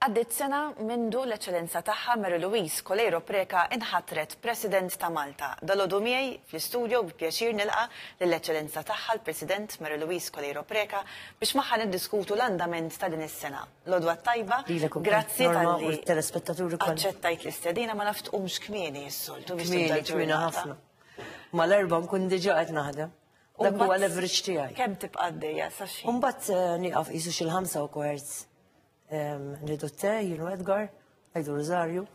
Għaddiet sena mindu l-Eċċellenza Tagħha Mary Louise Coleiro Preca inħatret President ta' Malta. Dalgħodu miegħi fl-istudio bi pjaċir nilqa' lill-Eċċellenza Tagħha l-President Mary Louise Coleiro Preca biex magħha niddiskutu l-andament ta' din is-sena. L-għodwa t-tajba, grazzi talli aċċettajt l-istedina, ma naf tqumx kmieni s-soltu biex tibda l-ġurnata. Kmieni, kmieni ħafna. Mal-erbgħa nkun diġà qed naħdem. Dak huwa l-average tiegħi. Kemm tibqa' għaddejja sa xi? Mbagħad eh, nieqaf qisu xi l-ħamsa u kwart ehm, nidu t-te, jienu Edgar, għajdu Rosario.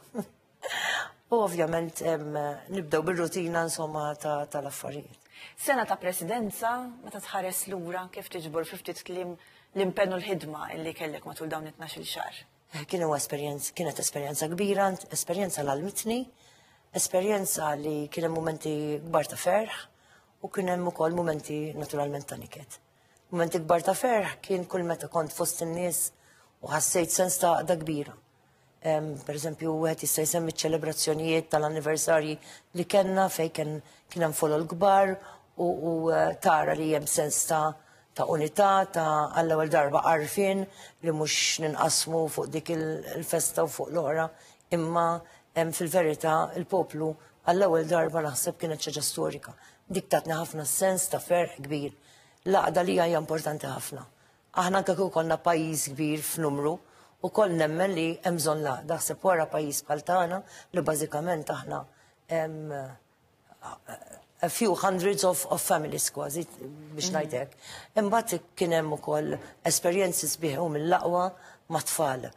U ovvjament ehm, nibdew bir-rutina insomma tal-affarijiet. Sena ta' presidenza, meta tħares lura kif tiġbor fi ftit kliem l-impenn u l-ħidma illi kellek matul dawn it-12 xahar. Eh, kien huwa esperjenza, kienet esperjenza kbira, esperjenza l-almitni, esperjenza li kien hemm momenti kbar ta' ferħ U kien hemm ukoll mumenti naturalment ta' niket. Mumenti kbar ta' ferħ kien kull meta kont fost in-nies u ħassejt sens ta' għaqda kbira. Per eżempju, wieħed jista' jsemmi ċ-ċelebrazzjonijiet tal-anniversarji li kellna fejn kien hemm folol kbar u eh, tara li hemm sens ta' ta' unità, ta' għall-ewwel darba għarfien li mhux ninqasmu fuq dik il-festa u fuq l-oħra, imma fil-verità il-poplu għall-ewwel darba naħseb kienet ċaġa storika. Dik tatni ħafna sens ta' ferħ kbir. Laqda li hija importanti ħafna. Aħna anke kieku konna pajjiż kbir f'numru, u koll nemmen li hemm bżonn laqda ħseb wara pajjiż bħal tagħna li bażikament aħna a few hundreds of, of families kważi biex mm. ngħidlek. Imbagħad kien hemm ukoll esperjenzi sbieħu mill-laqwa mat-tfal.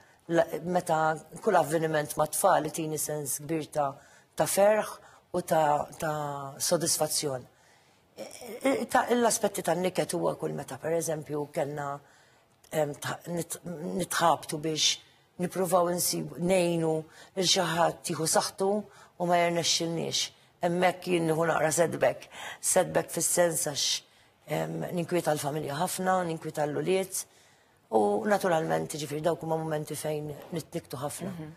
Meta kull avveniment mat-tfal tini sens kbir ta' ta' ferħ u ta', ta sodisfazzjon. E, e, e, l-aspetti tan-niket huwa kull meta pereżempju kellna nitħabtu biex nipruvaw insib nejnu il xaħat tiħu saħtu u ma jirnexxilniex. Emmek jien nieħu naqra setback. Setback fis-sens għax ninkwieta l-familja ħafna, ninkwieta l-uliet u naturalment ġifir dawk huma momenti fejn nitniktu ħafna. Mhm.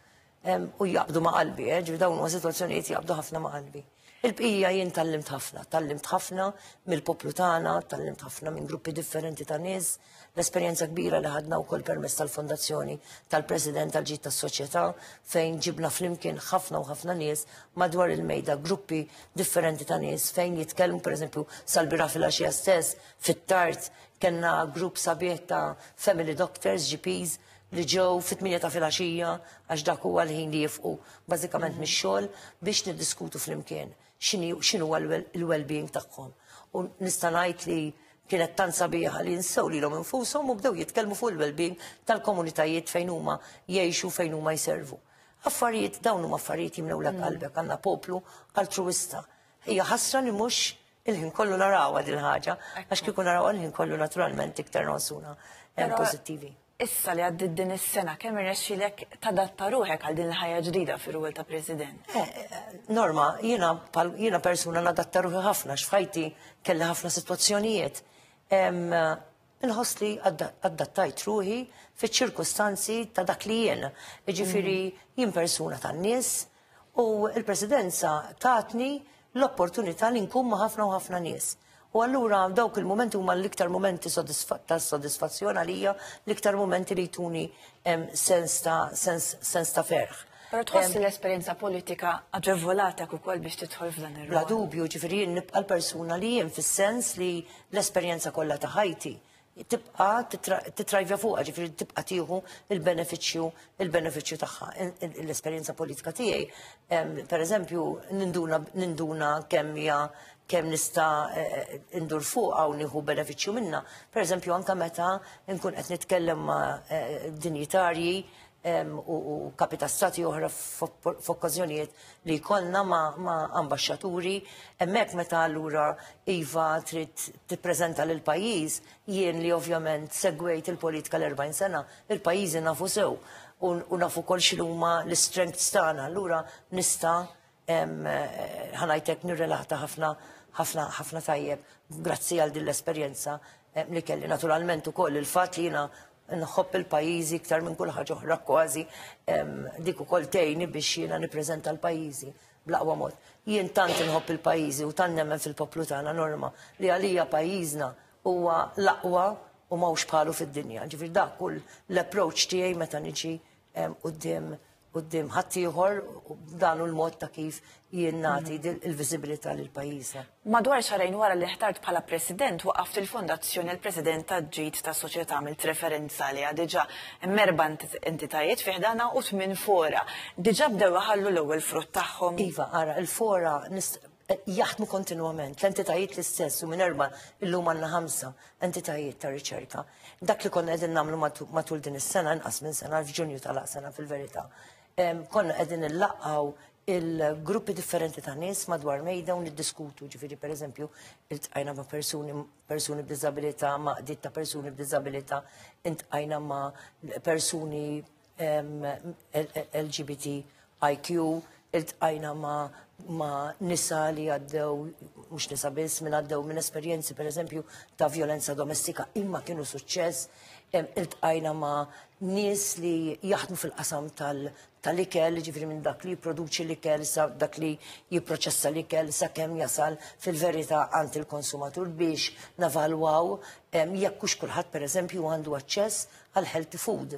U jaqbdu ma' qalbi, eh, ġifi dawn huma sitwazzjonijiet jaqbdu ħafna ma' qalbi. Il-bqija jien tallimt ħafna, tallimt ħafna mill-poplu tagħna, tallimt ħafna minn gruppi differenti ta' nies, l-esperjenza kbira li ħadna wkoll permezz tal-fondazzjoni tal-President tal-ġid tas-soċjetà fejn ġibna flimkien ħafna u ħafna nies madwar il-mejda gruppi differenti ta' nies fejn jitkellmu pereżempju sal-bira fil-għaxija stess fit-tard kellna grupp sabiħ ta' family doctors, GPs, li ġew fit-8 ta' filgħaxija għax dak huwa l-ħin li jifqu bażikament mix-xogħol biex niddiskutu flimkien x'inhu l-well-being tagħhom. U nista' ngħid li kienet tant sabiħa li nsew lilhom infushom u bdew jitkellmu fuq il-well-being tal-komunitajiet fejn huma jgħixu fejn huma jservu. Affarijiet dawn huma affarijiet jimnew l qalbek għandna poplu altruista. Hija ħasra li mhux il-ħin kollu narawha din ħaġa għax kieku narawha l-ħin kollu naturalment iktar nonsuna eh, pożittivi. Issa li għaddiet din is-sena, kemm irnexxielek tadatta ruħek għal din il-ħajja ġdida fir-rwol ta' President? Eh, Norma, jiena jiena persuna nadatta ruħi ħafna x'fajti kelli ħafna sitwazzjonijiet. Inħoss li adattajt ruħi fiċ-ċirkustanzi ta' dak li jien. Jiġifieri jien persuna tan-nies, U l-Presidenza tatni l-opportunità li nkun ma' ħafna u ħafna nies. U allura dawk il-momenti huma l-iktar momenti ta' soddisfazzjon għalija, l-iktar momenti li jtuni sens ta' sens ta' ferħ. Pero tħoss l-esperjenza politika aġevolata ukoll biex tidħol f'dan ir Bla dubju, ġifieri jien nibqa' l-persuna li jien fis-sens li l-esperjenza kollha ta' ħajti tibqa' titrajvja fuqha, ġifieri tibqa' tieħu l-benefiċċju il-benefiċċju tagħha. L-esperjenza politika tiegħi, pereżempju, ninduna ninduna kemm hija kemm nista' e, e, indur fuqha u nieħu benefiċċju minnha. Pereżempju anke meta nkun qed nitkellem ma' e, dinjitarji u kapi ta' stati oħra f'okkażjonijiet li jkollna ma' ambasċaturi, hemmhekk meta allura iva trid tippreżenta lil pajjiż, jien li ovvjament segwejt il-politika l-40 sena, il-pajjiżi nafu sew u nafu kol x'inhuma l-istrengths tagħna, allura nista' ħanajtek nirrelata ħafna ħafna ħafna tajjeb grazzi għal din l-esperjenza eh, li kelli naturalment ukoll il-fatt li jiena nħobb il-pajjiżi iktar minn kull ħaġa oħra kważi dik ukoll tgħinni biex jiena nippreżenta l-pajjiżi bl-aqwa mod. Jien tant inħobb il-pajjiżi u tant nemmen fil-poplu tagħna norma li għalija pajjiżna huwa l-aqwa u mawx bħalu fid-dinja. Ġifier dak kull l-approach tiegħi meta niġi Qudiem qudiem ħaddieħor dan u l-mod ta' kif jien nagħti mm. il-viżibilità lil pajjiżna. Madwar xarajn wara li ħtart bħala President waqaft il-Fondazzjoni l-President ta' ġid ta' soċjetà għamilt referenza li diġà merba entitajiet fiħdana u tmien fora. Diġà bdew ħallu l-ewwel frott tagħhom. Iva, ara, il-fora jaħdmu kontinwament, l-entitajiet l-istess u minn erba illum għandna ħamsa entitajiet ta' riċerka. Dak li konna qegħdin nagħmlu matul din is-sena nqas minn sena f'Ġunju tal-sena fil-verità. Konna qegħdin illaqgħu il-gruppi differenti ta' nies madwar mejda u niddiskutu, ġifiri per eżempju, il-tqajna ma' persuni, persuni b'dizabilita, ma' ditt ta' persuni b'dizabilita, intqajna ma' persuni LGBTIQ, iltqajna ma' ma nisa li għaddew, mux nisa biss, minn għaddew minn esperienzi per eżempju ta' violenza domestika imma kienu suċċess, iltqajna ma' nis li jaħdmu fil-qasam tal-ikel, ġifri minn dak li jiproduċi l-ikel, sa dak li jiproċessa l-ikel, sa kem jasal fil-verita għand il-konsumatur biex navalwaw jekk hux kulħadd per eżempju għandu aċċess għal healthy food.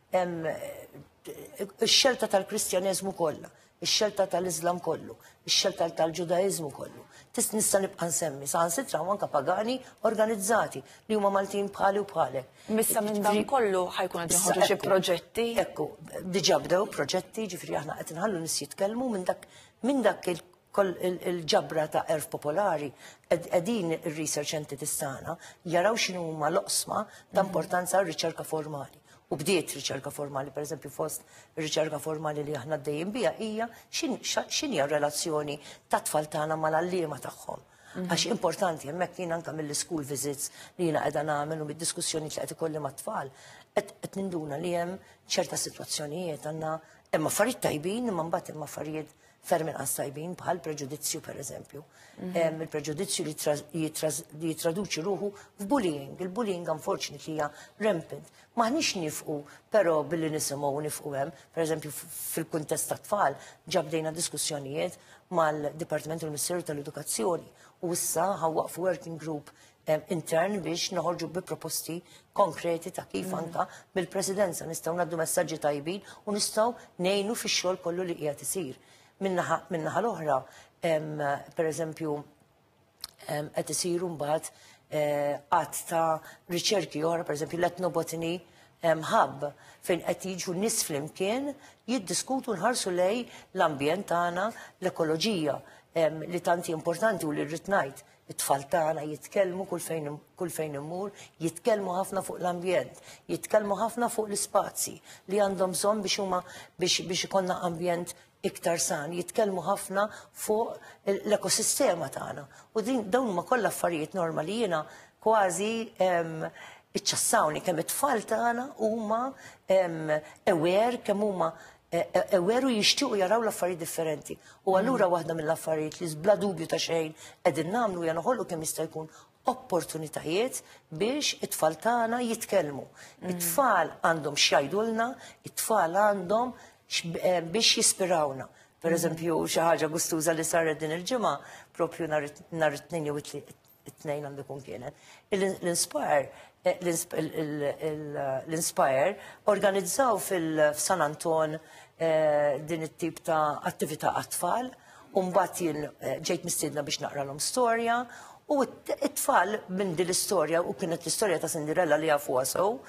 Ix-xelta tal-Kristjaneżmu kollha, ix-xelta tal-Iżlam kollu, ix-xelta tal-Ġudaeżmu kollu. Tista' nista' nibqa' nsemmi saħansitra u anke pagani organizzati li huma Maltin bħali u bħalek. Missa minn dan kollu ħajkun qed joħorġu xi proġetti. Ekku, diġà bdew proġetti, ġifieri aħna qed inħallu nies jitkellmu minn dak minn dak koll il-ġabra ta' erf popolari, edin il-research entities tagħna jaraw xinu huma loqsma ta' importanza r-riċerka formali. U bdiet riċerka formali, per eżempju, fost riċerka formali li aħna d-dejjem bija, hija xini relazzjoni ta' tfal tagħna mal-allima tagħhom. Mhm. Għax importanti, jemmek jien anka mill-school visits li jina għedan għamil u mid-diskussjoni li għet ikolli ma' tfal, għet ninduna li jem ċerta situazzjonijiet għanna, emma farid tajbin, imma mbagħad imma farid ferm inqas tajbin bħal preġudizzju per eżempju. Mhm. Il-preġudizzju li jitraduċi ruħu f'bullying. Il-bullying unfortunately hija rampant. Maħniex nifqu, però billi nisimgħu nifqu hemm, per eżempju fil-kuntest ta' tfal, ġabdejna diskussjonijiet mal-Dipartiment tal-Ministeru tal-Edukazzjoni u issa ħawwaqfu working group intern biex noħorġu bi proposti konkreti ta' kif mm. anka mill-presidenza nistgħu naddu messaġġi tajbin u nistgħu nejnu fix-xogħol kollu li qiegħed isir. Minnaħa l-oħra, per eżempju, qed isiru mbagħad eh, qatt ta' riċerki oħra, per eżempju l-etnobotini ħab fejn qed jiġu nies flimkien jiddiskutu nħarsu lej l-ambjent tagħna l-ekoloġija li tanti importanti u li rrid ngħid It-tfal tagħna jitkellmu kull fejn kull fejn immur, jitkellmu ħafna fuq l-ambjent, jitkellmu ħafna fuq l-ispazji li għandhom bżonn biex huma biex biex ikollna ambjent iktar san, jitkellmu ħafna fuq l-ekosistema tagħna. U din dawn huma kollha affarijiet norma li jiena kważi iċċassawni kemm it-tfal tagħna huma aware kemm huma e, e, e, veru jixtiequ jaraw l-affarijiet differenti. U mm. allura waħda mill-affarijiet li bla dubju ta' xejn qegħdin nagħmlu hija noħolqu kemm jista' jkun opportunitajiet biex it-tfal tagħna jitkellmu. Mm. It-tfal għandhom x'jgħidulna, it-tfal għandhom eh, biex jispirawna. Per mm. eżempju, xi ħaġa gustuża li saret din il-ġimgħa propju nhar it-tnejn jew it-tnejn għandu jkun kienet. L-Inspire eh, l-Inspire organizzaw fil-San Anton eh, din it-tip ta' attività għat-tfal, un-bat jien eh, ġejt mistidna biex naqra l-om storja, u it-tfal minn din l-istorja, u kienet l-istorja ta' Cinderella li għafu għasow,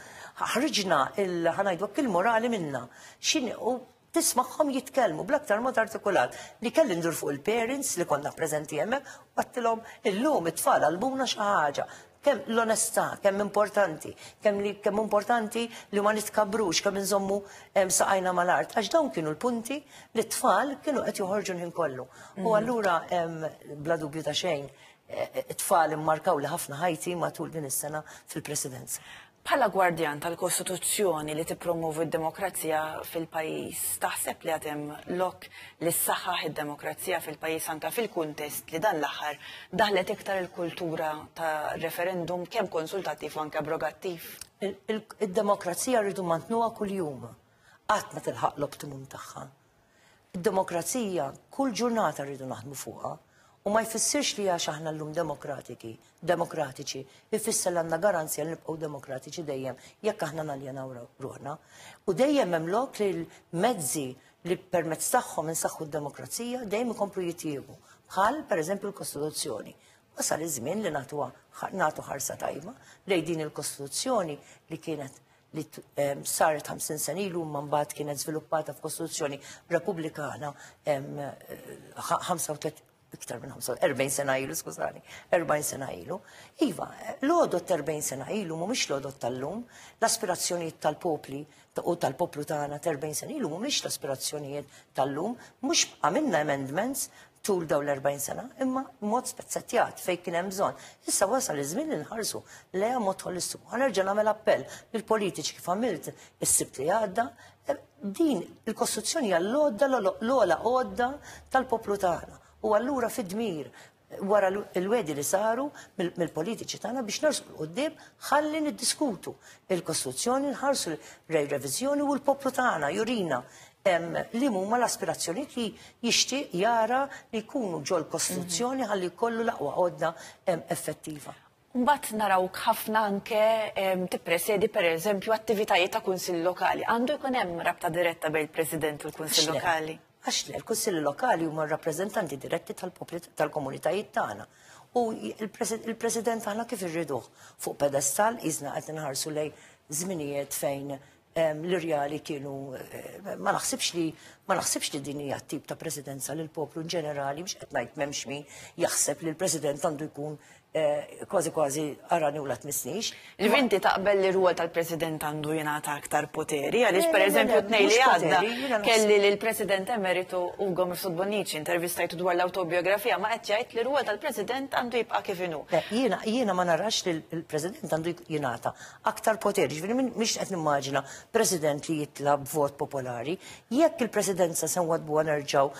ħriġna il-ħanajdu il-morali minna. Xin u tismagħhom jitkellmu bl-aktar mod artikulat li kelli ndur fuq il-parents li konna preżenti hemmhekk u għattilhom illum it-tfal għalmuna xi ħaġa kemm l-onestà, kemm importanti, kemm li kemm importanti li ma nitkabrux, kemm inżommu saqajna mal-art, għax dawn kienu l-punti li t-tfal kienu qed joħorġu l-ħin kollu. U mhm. allura bla dubju ta' xejn, e, e, t-tfal immarkaw li ħafna ħajti matul din is-sena fil-presidenza. Bħala gwardjan tal-Kostituzzjoni li tippromovi d-demokrazija fil-pajjiż, taħseb li għad hemm lok li ssaħħaħ id-demokrazija fil-pajjiż anke fil-kuntest li dan l-aħħar daħlet iktar il-kultura ta' referendum kemm konsultattiv u anke abrogattiv? Id-demokrazija rridu mmantnuha kuljum. Qatt ma tilħaq l-optimum tagħha. Id-demokrazija kull ġurnata rridu naħdmu fuqha u ma jfissirx li għax aħna llum demokratiki, demokratiċi, jfisser li għandna garanzja li nibqgħu demokratiċi dejjem jekk aħna naljenaw ruħna. U dejjem hemm lok li l-mezzi li permezz tagħhom insaħħu d-demokrazija dejjem ikomplu jitjiebu, bħal pereżempju l-Kostituzzjoni. Wasal iż-żmien li nagħtu ħarsa tajba lejn din il-Kostituzzjoni li kienet li ehm, saret 50 sen ilu ma mbagħad kienet żviluppata f'Kostituzzjoni Repubblikana 35 ehm, iktar minn 40 sena ilu, skużani, 40 sena ilu. Iva, l-odot 40 sena ilu mhumiex l-odot tal-lum, l-aspirazzjonijiet tal-popli u tal-poplu tagħna 40 sena ilu mhumiex l-aspirazzjonijiet tal-lum, mhux għamilna amendments tul dawn l-40 sena, imma mod spezzettjat fejn kien hemm bżonn. Issa wasal iż-żmien li nħarsu leja mod holistiku. Ħa nerġa' nagħmel appell lill-politiċi kif għamilt is-sibt li għadda, e, din il-Kostituzzjoni hija l-għodda l-ogħla għodda tal-poplu tagħna. U allura fid-dmir wara l-wedi li saru mill-politiċi tagħna biex narsu l-qoddim ħalli niddiskutu il-Kostituzzjoni nħarsu rej reviżjoni u l-poplu tagħna jurina li huma l-aspirazzjonijiet li jixtieq jara li jkunu ġol kostruzzjoni mhm. ħalli kollu l-aqwa għodda effettiva. Mbatt naraw ħafna anke tippresedi per eżempju attivitajiet ta' kunsill lokali. Għandu jkun hemm rabta diretta bejn il-President u l-Kunsill Lokali. Għax le, l-Kunsill Lokali huma rappreżentanti diretti tal-popli tal-komunitajiet tagħna. U il-President aħna kif irriduh fuq pedestal iżna qed inħarsu lej żminijiet fejn l-irjali kienu ma naħsibx li ma naħsibx li din hija tip ta' presidenza li l-poplu in ġenerali biex qed ngħid m'hemmx min jaħseb li l-president għandu jkun eh, kważi kważi arani u la tmissnix. Li vinti taqbel li rwol tal-president għandu jingħata aktar poteri, għaliex pereżempju tnej li għadda kelli li l-president emeritu Ugo Mifsud Bonnici intervistajtu dwar l-autobiografija ma qed jgħid li rwol tal-president għandu jibqa' kif inhu. Jiena ma narax li l-president għandu jingħata aktar poteri, ġviri miex qed nimmaġina president li jitla b'vot popolari, jekk il-presidenza se nwadbu nerġaw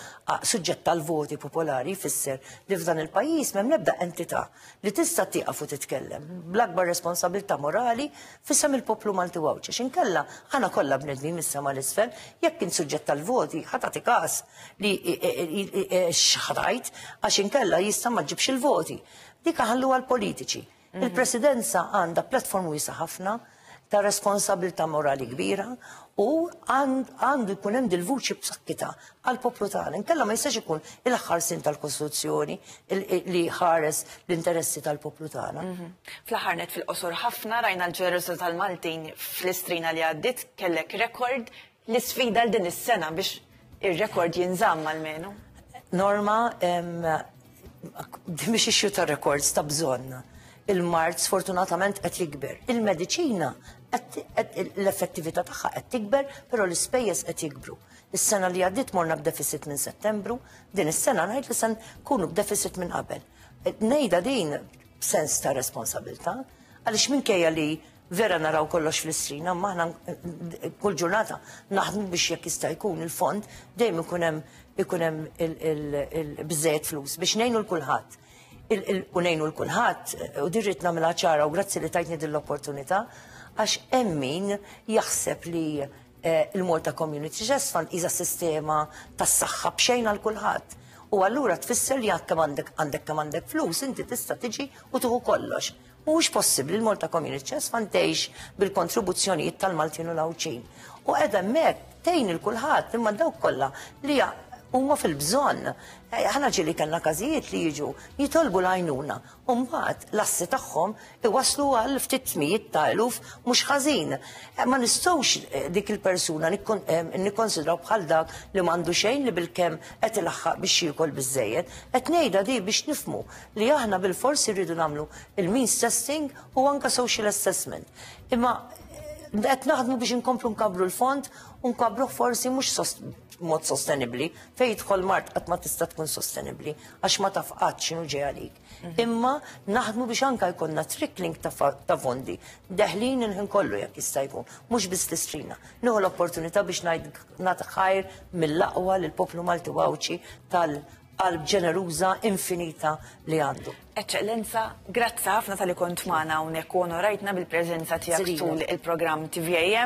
suġġett tal-voti popolari fisser li f'dan il-pajjiż m'hemm nebda entità li tista' tieqaf u titkellem bl-akbar responsabilità morali fissem il-poplu Malti Għawdx. Xinkella ħana kollha bnedmi mis-sema l-isfel jekk kien suġġett tal-voti ħatati każ li xħatajt għax inkella jista' ma ġibx il-voti. Dik ħallu għal politiċi. Mhm. Il-presidenza għandha platform wisa ħafna ta' responsabilità morali kbira u għandu jkun hemm dil-vuċi b'sakkita għal poplu tagħna. Inkella ma jistax ikun il-ħarsin tal-Kostituzzjoni li ħares l-interessi tal-poplu tagħna. Mhm. Fl-aħħar net fil-qosor ħafna rajna l-ġenerożità tal-Maltin fl-istrina li għaddit kellek rekord L-isfida l din is-sena biex ir-rekord jinżamm almenu. Norma, biex ixju ta' rekords ta' bżonn. Il-mart sfortunatament qed jikber. Il-mediċina l-effettività tagħha qed tikber, però l-ispejjeż qed jikbru. Is-sena li għaddiet morna b'deficit minn Settembru, din is-sena ngħid li se nkunu b'deficit minn qabel. Nejda din sens ta' responsabilità, għaliex minkejja li Vera naraw kollox fl-isrin, imma aħna kull ġurnata naħdmu biex jekk jista' jkun il-fond dejjem ikun hemm ikun hemm il-biżejjed flus biex ngħinu l kulħadd. U ngħinu l kulħadd u dirrit nagħmilha ċara u grazzi li tajtni din l-opportunità għax hemm min jaħseb li eh, il-Malta Community Trust Fund iża sistema tas-saħħa b'xejn għal kulħadd. U allura tfisser li għandek għandek kemm għandek flus inti tista' tiġi u tuħu kollox. Mhuwiex possibbli l-Malta Community Chess Fund tgħix bil-kontribuzzjonijiet tal-Maltin u l-Għawdxin. U qed hemmhekk tgħin il kulħadd imma dawk kollha li huma fil-bżonn. Eh, aħna ġili kellna każijiet li jiġu jitolbu l-għajnuna u mbagħad l-assi tagħhom iwaslu għal ftit mijiet ta' eluf mhux ħażin. Eh, ma nistgħux eh, dik il-persuna nikkonsidraw bħal dak li m'għandu xejn li bil-kemm qed ilaħħaq biex jiekol biżejjed. Qed ngħidha di biex nifmu li aħna bil-forsi rridu nagħmlu il-means testing u anka social assessment. Imma eh, qed naħdmu biex inkomplu nkabru l-fond u nkabru forsi mhux mod sostenibli fejn jidħol mart qatt ma tista' tkun sostenibli għax ma taf qatt x'inhu ġej għalik. Mhm. Imma naħdmu biex anka jkollna trickling ta' fondi deħlin il-ħin kollu jekk jista' jkun, mhux biss tistrina. Nieħu l-opportunità biex ngħid nagħti ħajr mill-aqwa lill-poplu Malti Wawċi tal qalb ġeneruża infinita li għandu. Eċċellenza, grazzi ħafna tal-li kont magħna hawnhekk u onorajtna bil-preżenza tiegħek tul il-programm TVAM.